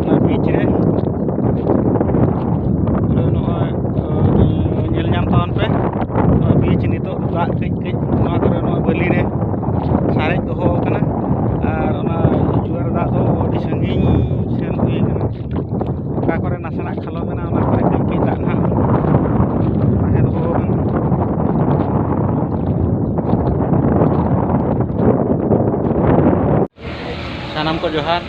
ᱚᱱᱟ ᱵᱤᱪ ᱨᱮ ᱯᱩᱨᱟᱹ ᱱᱚᱜᱼᱚᱭ ᱧᱮᱞ ᱧᱟᱢ ᱛᱟᱵᱚᱱ ᱯᱮ ᱱᱚᱣᱟ ᱵᱤᱪ ᱱᱤᱛᱚᱜ ᱫᱟᱜ ᱠᱟᱹᱡ ᱠᱟᱹᱡ ᱱᱚᱣᱟ ᱠᱚᱨᱮ ᱱᱚᱣᱟ ᱵᱟᱹᱞᱤ ᱨᱮ ᱥᱟᱨᱮᱡ ᱫᱚᱦᱚ ᱟᱠᱟᱱᱟ ᱟᱨ ᱚᱱᱟ ᱡᱩᱣᱟᱨ ᱫᱟᱜ ᱫᱚ ᱟᱹᱰᱤ ᱥᱟᱺᱜᱤᱧ ᱥᱮᱱ ᱦᱩᱭ ᱟᱠᱟᱱᱟ ᱚᱠᱟ ᱠᱚᱨᱮ ᱱᱟᱥᱮᱱᱟᱜ ᱠᱷᱟᱞᱚ ᱢᱮᱱᱟᱜᱼᱟ ᱚᱱᱟ ᱠᱚᱨᱮ ᱠᱟᱹᱡ ᱠᱟᱹᱡ ᱫᱟᱜ ᱱᱟᱦᱟᱜ ᱛᱟᱦᱮᱸ ᱫᱚᱦᱚ ᱟᱠᱟᱱᱟ ᱥᱟᱱᱟᱢ ᱠᱚ ᱡᱚᱦᱟᱨ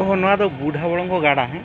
ᱚᱦᱚ ᱱᱚᱣᱟ ᱫᱚ ᱵᱩᱰᱷᱟ ᱵᱚᱲᱚᱝᱜᱚ ᱜᱟᱰᱟ ᱦᱮᱸ